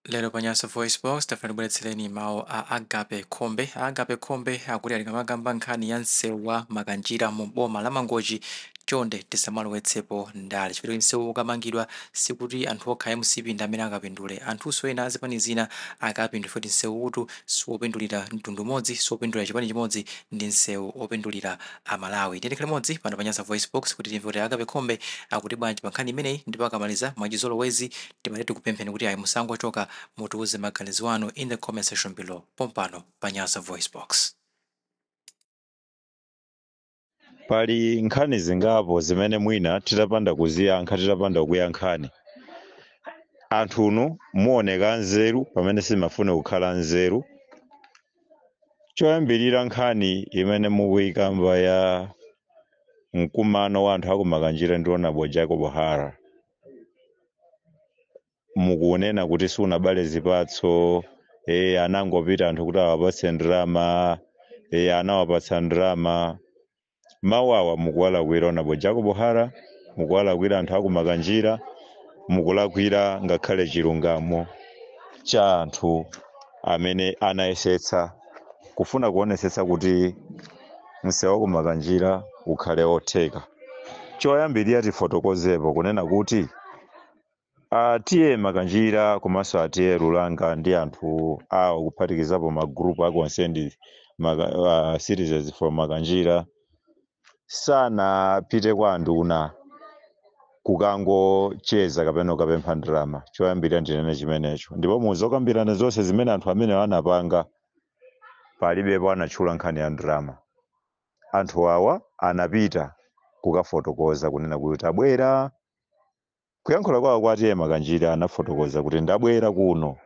lero pa nyasa voice box tafuna tibweretsereni mawu a agape khombe a agape khombe akuti atikamakamba nkhani ya msewu wa makanjira mu boma la mangochi chonde tisamalowetsepo ndale chifukwa kuti msewu ukamangidwa sikuti anthu okha a mcp ndi amene akapindule anthunso ena azipani zina akapindule futi msewu utu siwopindulira mtundu umodzi siwopindulira chipani chimodzi ndi msewu opindulira amalawi tiyeni tikhale limodzi pano pa nyasa voice box kuti timve kuti agape khombe akuti bwanji pa nkhani imeneyi ndipo akamaliza mwachizolowezi Timati tikupempheni kuti ayi musangochoka mutiuze maganizo anu in the comment section below pompano pa Nyasa VoiceBox. Pali nkhani zingapo zimene mwina titapanda kuziyankha titapanda kukuyankhani anthunu muoneka anzeru pamene simafune kukhala anzeru. Choyambirira nkhani imene mukuyikamba ya mkumano wa anthu akumakanjira ndi Honorable Jacob Hara mukunena kuti sunabale zipatso e, anangopita anthu kuti awapatse ndalama e, anawapatsa ndalama mawu awa mukuwalakwira honorable jacob hara mukuwalakwira anthu akumakanjira mukulakwira ngakhale chilungamo cha anthu amene anayesetsa kufuna kuonesetsa kuti msewu wa ku Makanjira ukhale otheka. Choyambirira tifotokozepo kunena kuti a TA Makanjira komanso a TA Lulanga ndi anthu awo kuphatikizapo ma group a concerned maka, uh, citizens for Makanjira sanapite kwa anduna kukangocheza kapena kukapempha ndalama choyambirira ndinene chimenecho ndipo muzokambirana zonse zimene anthu amenewo anapanga palibepo anatchula nkhani ya ndalama. Anthu awa anapita kukafotokoza kunena kuti tabwera. Kuyankhula kwawo kwa a TA Makanjira anafotokoza kuti ndabwera kuno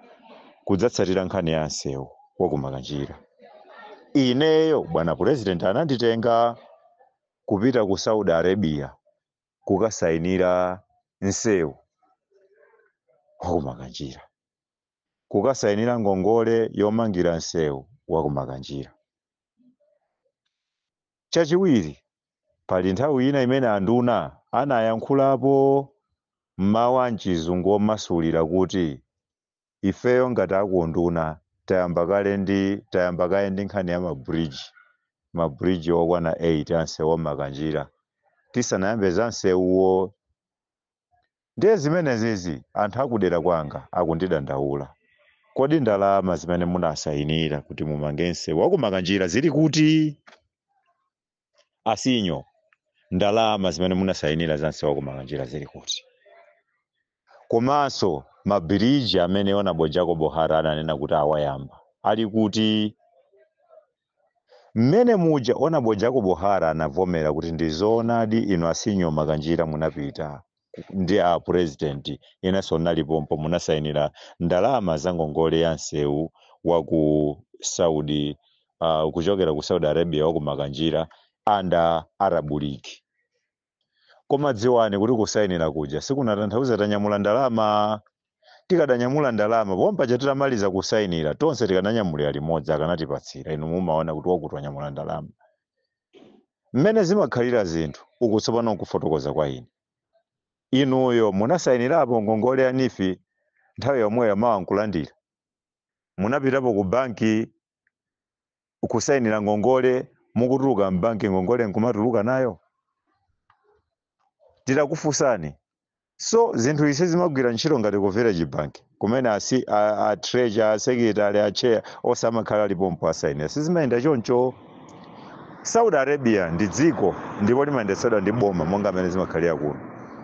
kudzatsatira nkhani ya msewu wa ku Makanjira. Ineyo bwana president ananditenga kupita ku Saudi Arabia kukasayinira msewu wa ku Makanjira. kukasayinira ngongole yomangira msewu wa ku Makanjira. Chachiwiri, pali nthawi ina imene anduna anayankhulapo m'mawu a m'Chizungu omasulira kuti, Ifeyo ngati a ku unduna tayamba kale ndi tayamba kaye ndi nkhani ya mabridge, mabridge okwana 8 a msewu wa Makanjira, tisanayambe za msewuwo. Ndiye zimenezizi anthu a kudera kwanga akundidandaula. Kodi ndalama zimene munasayinira kuti mumange msewu wa ku Makanjira zili kuti? A Sinyo, ndalama zimene munasayinira za msewu wa ku Makanjira zili kuti? Komanso mabiriji amene Hon. Jacob Hara ananena kuti awayamba ali kuti? Mmene muja Hon Jacob Hara anavomera kuti ndi zoonadi inu a Sinyo Makanjira munapita ndi a president inenso ndinali pompo munasainira ndalama za ngongole ya nsewu wa ku Saudi uh, kuchokera ku Saudi Arabia wa ku Makanjira under Arab League. Koma dziwani kuti kusainira kuja sikunatanthauza tanyamula ndalama. Tikadanyamula ndalama pompaja titamaliza kusainira tonse tikananyamulira limodzi akanatipatsira, inu mumaona kuti wakuti wanyamula ndalama. Mmene zimakhalira zinthu, uku tsopano nkufotokoza kwa ine. Inuyo munasainirapo ngongole ya NEEF nthawi yomweyo mawa nkulandira? Munapitapo kubanki kusayinira ngongole mukutuluka m'banki ngongole nkumatuluka nayo titakufunsani so zinthu izi sizimagwira ntchito ngati ku village bank kumene a treasurer a secretary a chair onse amakhala ali pompo asayinira sizimayenda choncho saudi arabia ndi dziko ndipo limayendetsedwa ndi boma monga mmene zimakhalira kuno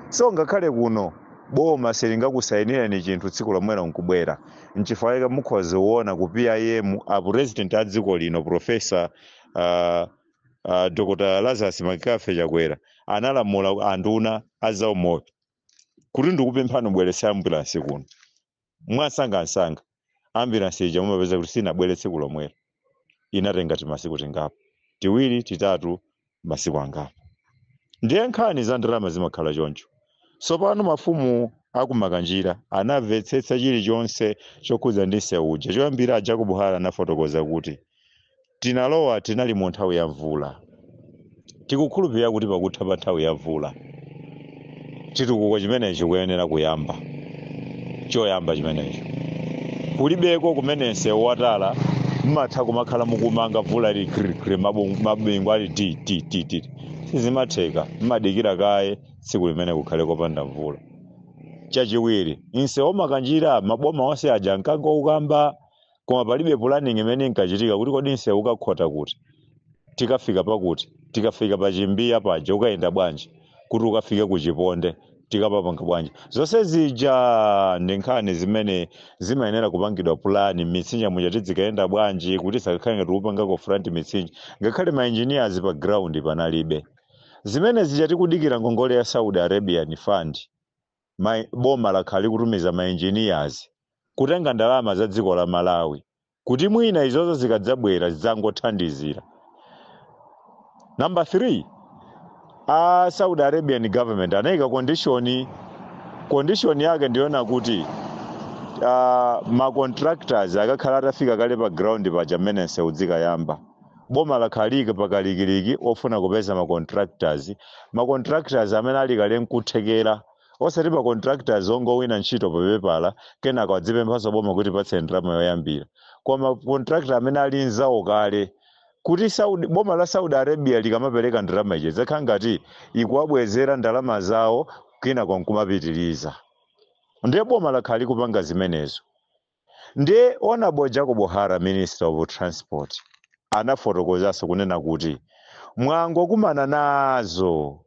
so ngakhale kuno boma silingakusayinireni chinthu tsiku lomwelo nkubwera nchifukwa chake mukhoza kuona ku pim a president a dziko lino profesa uh, uh, dr lazarus mccarthy chakwera analamula anduna azaumoyo kuti ndikupemphani mubweretse ambulansi kuno mwansangansanga ambulansi ija mumapeza kuti sinabwere tsiku lomwelo inatenga timasiku tingapo tiwiri titatu masiku angapo ndiye nkhani za ndalama zimakhala choncho tsopano mafumu akumakanjira anamvetsetsa chilichonse chokhudza ndi msewu uja choyamba a jacob hara anafotokoza kuti tinalowa tinali mu nthawi ya mvula Tikukhulupirira kuti pakutha pa nthawi ya mvula, chitukuko chimenechi chikuyenera kuyamba. Choyamba chimenecho. Kulibeko kumene msewu wa tala mumatha kumakhala mukumanga mvula ili khrikhri mabu- mabingu ali ti ti ti ti. Sizimatheka. Mumadikira kaye tsiku limene kukhale kopanda mvula. Chachiwiri, msewu wa Makanjira maboma onse aja ankangoukamba koma palibe planning imene inkachitika kuti kodi msewu ukakhota kuti tikafika pakuti tikafika pa chimbiya paja ukayenda bwanji kuti ukafike ku chiponde tikapapanga bwanji zonse zija ndi nkhani zimene zimayenera kupangidwa pulani mmitsinje muja tidzikayenda bwanji kuti sakakhale ngati kupangako front mitsinje ngakhale ma engineers pa ground panalibe zimene zija tikudikira ngongole ya saudi arabian fund boma lakhala likutumiza ma engineers kutenga ndalama za dziko la Malawi kuti mwina izozo zikadzabwera zidzangothandizira. Number 3, a Saudi Arabian government anaika condition, condition yake ndi yoona kuti uh, ma contractors akakhala atafika kale pa ground paja mmene nsewu udzikayamba Boma lakhala lili pa kalikiliki wofuna kupeza ma contractors, ma contractors amene ali kale nkuthekera, osati ma contractors ongowina ntchito pa pepala kenako adzipemphaso boma kuti tipatseni ndalama yoyambira, koma contractor amene ali nzawo kale. Kuti Saudi, boma la Saudi Arabia likamapereka ndalama ija idzakhala ngati ikuwabwezera ndalama zawo kenako nkumapitiliza. Ndiye boma lakhala likupanga zimenezo. Nde Hon Jacob Hara Minister of Transport anafotokozaso kunena kuti mwangokumana nazo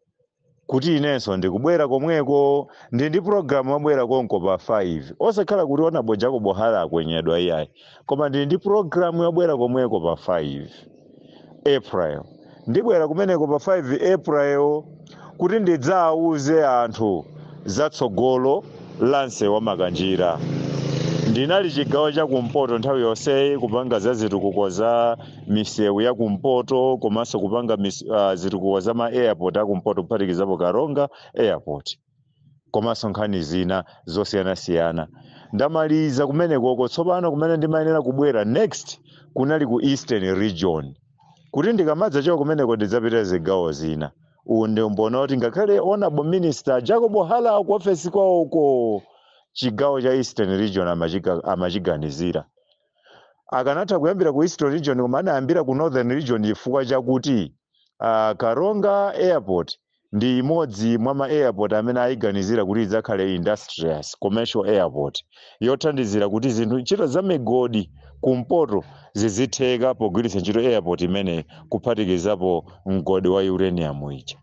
kuti inenso ndikubwera komweko ndi ndi program yobwera konko pa 5 osakhala kuti Hon Jacob Hara akwenyedwa iyayi koma ndi ndi program yobwera komweko pa 5 April. Ndibwera kumeneko pa 5 April kuti ndidzauze anthu za tsogolo la msewu wa Makanjira. Ndinali chigawo cha kumpoto nthawi yonseyi kupanga za zitukuko za misewu ya kumpoto komanso kupanga mis, uh, zitukuko za ma airport a kumpoto kuphatikizapo Karonga airport. komanso nkhani zina zosiyanasiyana ndamaliza kumenekoko tsopano kumene ndimayenera kubwera next kunali ku eastern region kuti ndikamadzachoka kumeneko ndidzapita zigawo zina nde muona kuti ngakhale honorable minister jacob hara ku ofesi kwawoko chigawo cha eastern region amachiga- amachiganizira akanatha kuyambira ku eastern region koma anayambira ku northern region chifukwa chakuti uh, karonga airport ndi imodzi mwa ma airport amene ayiganizira kuti idzakhale industrious, commercial airport yothandizira kuti zinthu, ntchito za migodi kumpoto zizitheka pogwiritsa ntchito airport imeneyi kuphatikizapo mgodi wa uranium ija.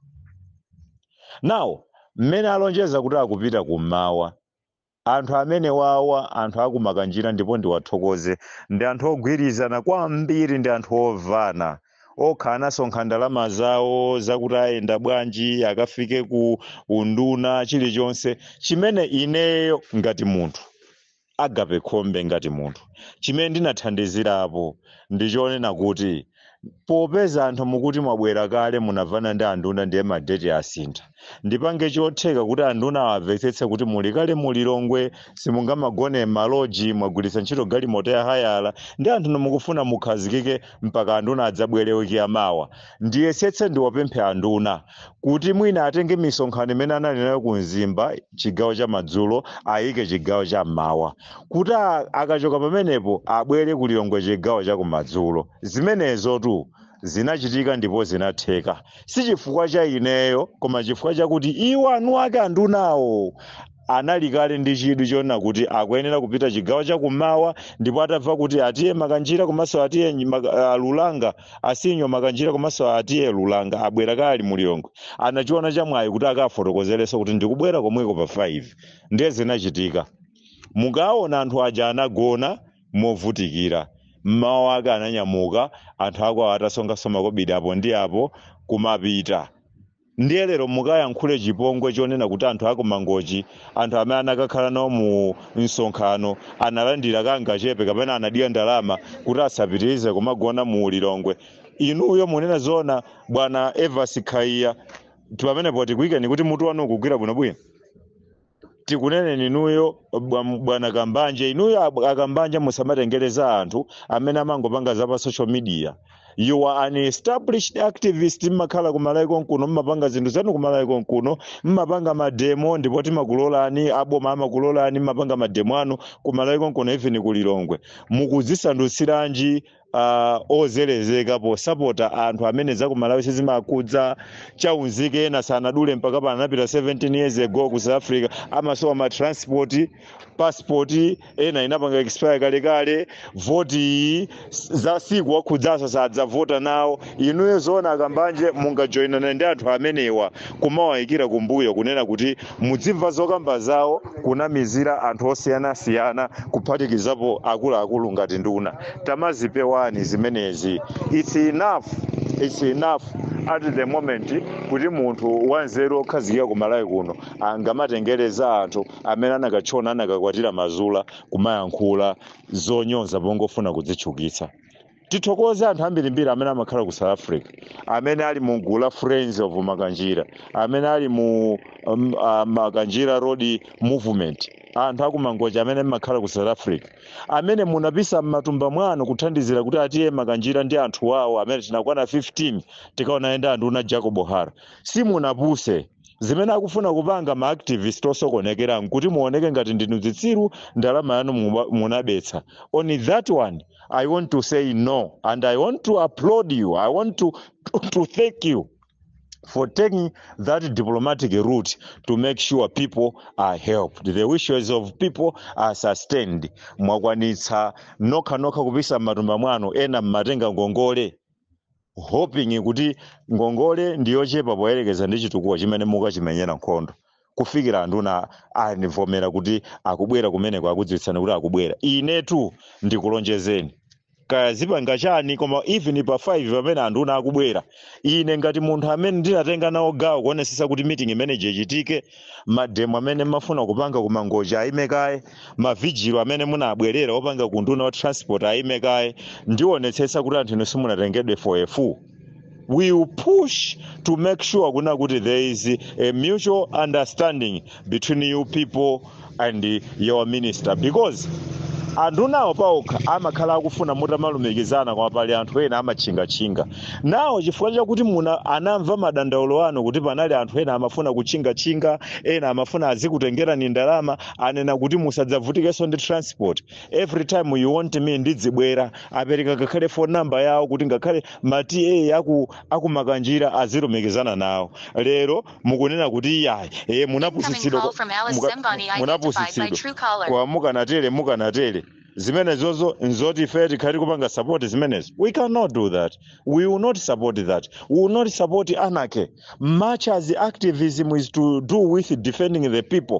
Now, mmene alonjeza kuti akupita kummawa, Anthu amenewawa, anthu aku Makanjira ndipo ndiwathokoze, ndi anthu ogwirizana kwambiri ndi anthu ovana. Okha anasonkha ndalama zawo zakuti ayenda bwanji akafike ku unduna chilichonse chimene ineyo ngati munthu, Agape Khombe ngati munthu, chimene ndinathandizirapo ndi chonena kuti, Popeza anthu mukuti mwabwera kale munavana ndi anduna ndiye ma date asintha. Ndipange chotheka kuti anduna awavetsetse kuti muli kale mu Lilongwe, simungamagone mma lodge, mwagwiritsa ntchito galimoto ya hayala, ndiye anthunu mukufuna mukhazikike mpaka anduna adzabwere week ya mawa. Ndiyesetse ndiwapemphe anduna. kuti mwina atenge misonkhano imene anali nayo ku Mzimba chigawo cha madzulo ayike chigawo cha mmawa kuti a- akachoka pamenepo abwere ku Lilongwe chigawo cha kumadzulo. Zimenezo tu zinachitika ndipo zinatheka, si chifukwa cha ineyo, koma chifukwa chakuti iwo eniake andunawo anali kale ndi chidwi chonena kuti akuyenera kupita chigawo chakummawa ndipo atamva kuti a T/A Makanjira komanso a T/A Nyi- Maka- ah, Lulanga a Senior Makanjira komanso a T/A Lulanga abwera kale ali mu Lilongwe anachiona chamwayi kuti akafotokozerenso kuti ndikubwera komweko pa 5 ndiye zinachitika mukaona anthu aja anagona movutikira mmawa wake ananyamuka anthu akwawo atasonkhanso makobidi apo ndi apo kumapita ndiye lero mukayankhule chipongwe chonena kuti anthu aku mangochi anthu amene anakakhala nawo mu msonkhano analandira kangachepe kapena anadya ndalama kuti asapitirize kumagona mu lilongwe inuyo munena zona bwana Evans khaya pamenepo tikuyikeni kuti mutu wanu ukugwira bwinobwino tikuneneni inuyo bwa- bwana kambanje inuyo ab- akambanje musamatengere za anthu amene amangopanga za pa social media you are an established activist mumakhala ku malawi konkuno mumapanga zinthu zanu ku malawi konkuno mumapanga mademo ndipo timakulolani aboma amakulolani mumapanga mademo anu ku malawi konkuno even ku lilongwe mukudzisandutsiranji uh, ozerezeka posapota anthu amene zakumalawi siziwakhudza chaunzika ena sanadule mpaka pano anapita 17 years ago ku south africa amasowa ma transport passport ena inapanga expire kalekale voti iyi siikuwakhudzanso sadzavota nawo inuyo zoona akambanje mungajoinane ndi anthu amenewa kumawayikira kumbuyo kunena kuti muzimva zokamba zawo kunamizira anthu osiyanasiyana kuphatikizapo akuluakulu ngati nduna tamazipewani zimenezi its enough its enough at the moment kuti munthu wanzeru okhazikika ku malawi kuno angamatengere za anthu amene anakatchona anakakwatira ma Zulu kumayankhula zonyoza pongofuna kudzitchukitsa Tithokoze anthu ambirimbiri amene amakhala ku South Africa amene ali mu gulu la Friends of Makanjira amene ali mu um, uh, Makanjira Road Movement anthu aku Mangochi amene mumakhala ku South Africa amene munapisa m'matumba mwanu kuthandizira kuti a T/A Makanjira ndi anthu awo amene tinakwana 15 tikaonane ndi anduna Jacob Hara simunapuse Zimene akufuna kupanga ma activist osokonekera nkuti muoneke ngati ndinu zitsiru, ndalama yanu muba, munabetsa. On that one I want to say no and I want to applaud you, I want to, to, to thank you for taking that diplomatic route to make sure people are helped the wishes of people are sustained mwakwanitsa nokhanokha kupisa m'matumba mwanu ena mumatenga ngongole hoping kuti ngongole ndi yochepa poyerekeza ndi chitukuko chimene mukachimenyera nkhondo kufikira anduna andivomera kuti akubwera kumeneko akudziwitsani kuti akubwera inetu ndikulonjezeni kaya zipanga chani koma even pa 5 pamene anduna akubwera ine ngati munthu amene ndinatenga nawo gawo kuonesesa kuti meeting imeneyi ichitike mademo amene mumafuna kupanga ku mangochi ayime kaye mavigilo amene munabwerera opanga ku nduna wa transport ayime kaye ndionetsetsa kuti anthu inu simunatengedwe for a fool we will push to make sure kuna kuti there is a mutual understanding between you people and your minister because andunawo paokha amakhala akufuna mutamalumikizana koma pali anthu ena amatchingatchinga nawo chifukwa chakuti muna anamva madandaulo anu kuti panali anthu ena amafuna kutchingatchinga ena amafuna azikutengerani ndalama anena kuti musadzavutikenso ndi transport every time you want me ndidzibwera apereka ngakhale phone number yawo kuti ngakhale ma TA aku, aku makanjira azilumikizana nawo lero mukunena kuti iyayi munapusitsidwa kwa mukanatere mukanatere zimenezozo nzoti ife tikhale tikupanga support zimenezo we cannot do that we will not support that we will not support anarchy much as activism is to do with defending the people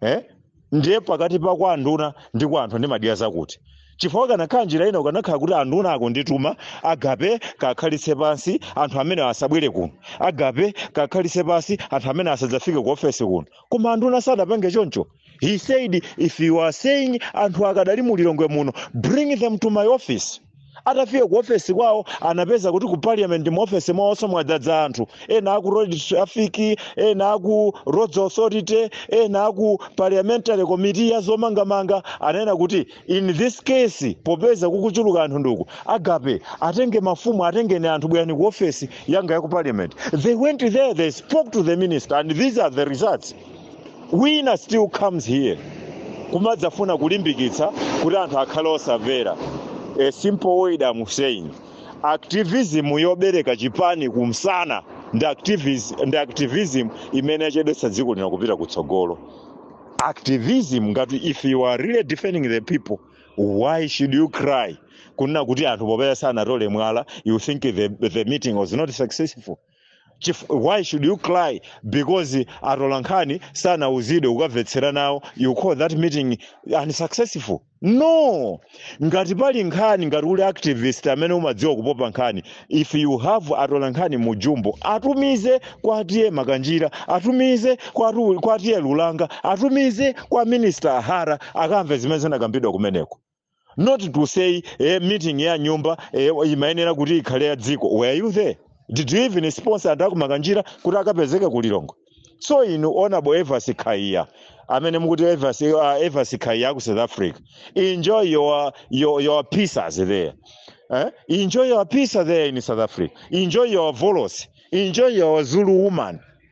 eh? ndiye pakati pa kwa anduna ndi kwa anthu ndimadya za kuti chifukwa kanakhala njira ina kukanakhala kuti anduna akundituma agape kakhalitse pansi anthu amenewa asabwere kuno agape kakhalitse pansi anthu amenewa asadzafike ku ofesi kuno koma anduna sadapange choncho he said if you are saying anthu akadali mu lilongwe muno bring them to my office atafika ku ofesi kwawo anapeza kuti ku parliament mu ofesi mwawonso mwadzadza anthu ena aku road traffic ena aku roads authority ena aku parliamentary committee ya zomangamanga anena kuti in this case popeza kukuchuluka anthu nduku agape atenge mafumu atengeni anthu bwerani ku ofesi yanga ya ku parliament they went there they spoke to the minister and these are the results wina still comes here kumadzafuna kulimbikitsa kuti anthu akhale osavera a simple word am saying activism yobereka chipani kumsana ndi activism, ndi activism imene yachedwetsa dziko lino kupita kutsogolo activism ngati if you are really defending the people why should you cry kunena kuti anthu popeza sanatole mwala you think the, the meeting was not successful Chif- why should you cry because atolankhani sanauzidwe kukamvetsera nawo you call that meeting unsuccessful no ngati pali nkhani ngati uli activist amene umadziwa kupopa nkhani if you have atolankhani mu jumbo atumize kwa a TA makanjira atumize kwa atu- kwa a TA lulanga atumize kwa minister a hara akamve zimene zinakambidwa kumeneko not to say eh, meeting ya nyumba eh, imayenera kuti ikhale ya dziko were you there did you even sponsor anthu akumakanjira kuti akapezeke ku lilongwe so inu honorable evans khaiya amene mukuti evans, uh, evans khaiya aku south africa enjoy your, your, your pieces there eh? enjoy your pizza there in south africa enjoy your volos enjoy your zulu woman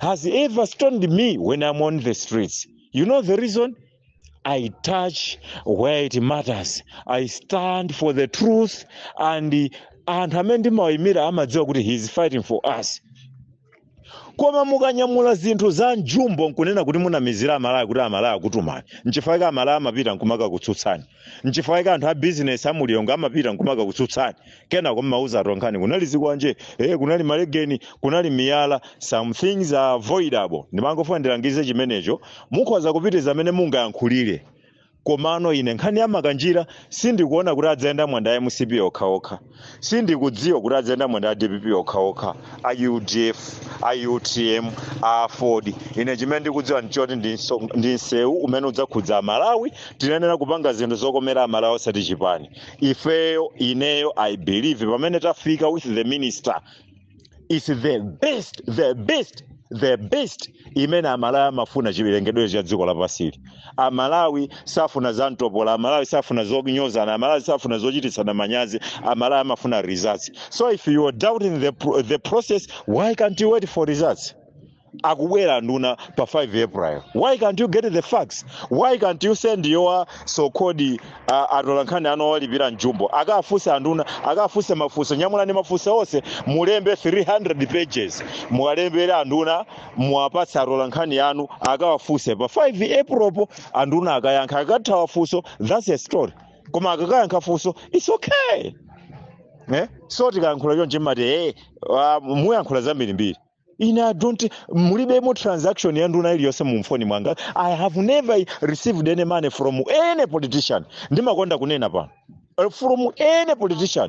has ever stoned me when I'm on the streets. You know the reason? I touch where it matters. I stand for the truth and anthu amene ndimawaimira amadziwa kuti he is fighting for us. Koma mukanyamula zinthu za mjumbo nkunena kuti munamizira Amalawi kuti Amalawi akutumani. Nchifukwa chake amalawi amapita nkumakakutsutsani. nchifukwa chake anthu a bizinesi a mulilongo amapita nkumakakutsutsani kenako mmauza atolankhani kunali zikwanje eh, kunali malegeni kunali miyala some things are avoidable ndimangofuna ndilangize chimenecho mukhoza kupitiza amene mungayankhulire komano ine nkhani ya makanjira sindikuona kuti adzayendamo ndi a mcp okhaokha sindikudziwa kuti adzayendamo ndi a dpp okhaokha a udf a utm a aford ine chimene ndikudziwa ndichoti ndi nso- ndi msewu umene udzakhudza amalawi tinayenera kupanga zinthu zokomera amalawi osati chipani ifeyo ineyo i believe pamene tafika with the minister is the best the best the best imene amalawi amafuna chilengedwere cha dziko lapansili amalawi safuna za mtopola amalawi safuna zonyozana amalawi safuna zochititsana manyazi amalawi amafuna results so if you are doubting the, pro- the process why can't you wait for results akubwera anduna pa 5 april why can't you get the facts why can't you send your so called uh, atolankhani anu owalipira mjumbo akafunse anduna akafunse mafunso nyamulani mafunso onse mulembe 300 pages muwalembere anduna muwapatse atolankhani anu akawafunse pa 5 april po anduna akayankha akakathawa funso that's a story koma akakayankha funso it's okay eh? so tikayankhula chonchi mmati hey, uh, muyankhula zambirimbiri ine i don't mulibemo transaction ya nduna iliyonse mu mfoni mwanga i have never received any money from any politician ndimakonda kunena pano Eh, from any politician